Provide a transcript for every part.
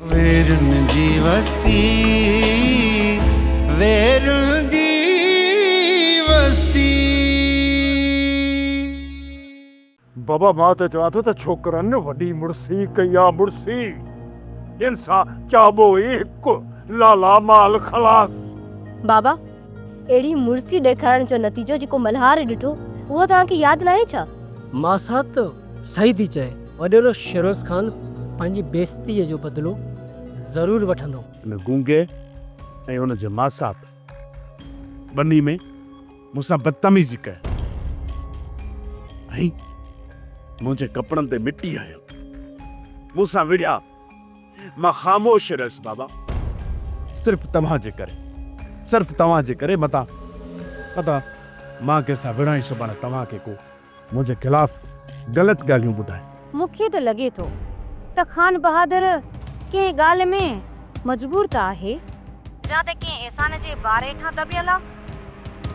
ويرن جي وستي ويرن جي وستي. بابا مان ته چوان ٿو ته ڇوڪرن وڏي مڙسي ڪئي آ مڙسي ان سان چئبو ئي هڪ لالا مال خلاص. بابا اهڙي مڙسي ڏيکارڻ جو نتيجو جيڪو ملهار ڏٺو اهو توهان کي ياد ناهي ڇا؟ ماسات صحيح ٿي چئي وڏيرو شيروز خان پنهنجي بيعزتي جو بدلو ضرور وٺندو. ان گونگي ۽ ان جي ماسات ٻنهي ۾ مون سان بدتميزي ڪئي ۽ منهنجي ڪپڙن تي مٽي هنيو. مون سان وڙهيا. مان خاموش رهيس بابا. صرف توهان جي ڪري. صرف توهان جي ڪري متان متان مان ڪنهن سان وڙهان ئي سڀاڻي توهان کي ڪو منهنجي خلاف غلط ڳالهيون ٻڌائي. مون کي ته لڳي ٿو ته خان بهادر ڪنهن ڳالهه ۾ مجبور ته آهي يا ته ڪنهن احسان جي بار هيٺان دٻيل آ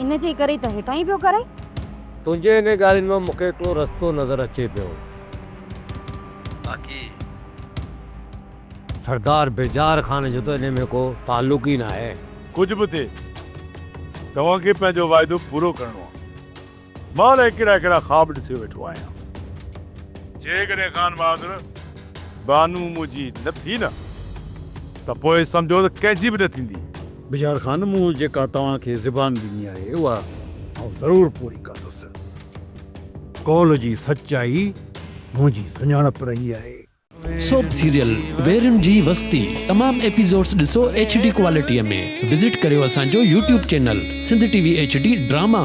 ان جي ڪري ته هيٺان ئي پيو ڪري. تنهنجي انهن ڳالهين مان مون کي هڪڙو رستو نظر اچي پيو باقي سردار بيزار خان جو ته انهي ۾ ڪو تعلق ئي ناهي. ڪجهه به ٿئي توهان کي پنهنجو واعدو پورو ڪرڻو آ. مان الائي ڪهڙا ڪهڙا خواب ڏسي ويٺو آهيان. جيڪڏهن خان بهادر بانو منهنجي نه ٿي نه ته پوء سمجهو ته ڪنهن جي به نه ٿيندي. بجار خان مون جيڪا توهان کي زبان ڏني آهي اها آئون ضرور پوري ڪندس. قول جي سچائي منهنجي سڃاڻپ رهي آهي. سوپ سيريل ويرين جي وستي تمام ايپيسوڊس ڏسو ايڇ ڊي ڪوالٽي ۾ وزٽ ڪريو اسان جو YouTube channel Sindh T V H D drama.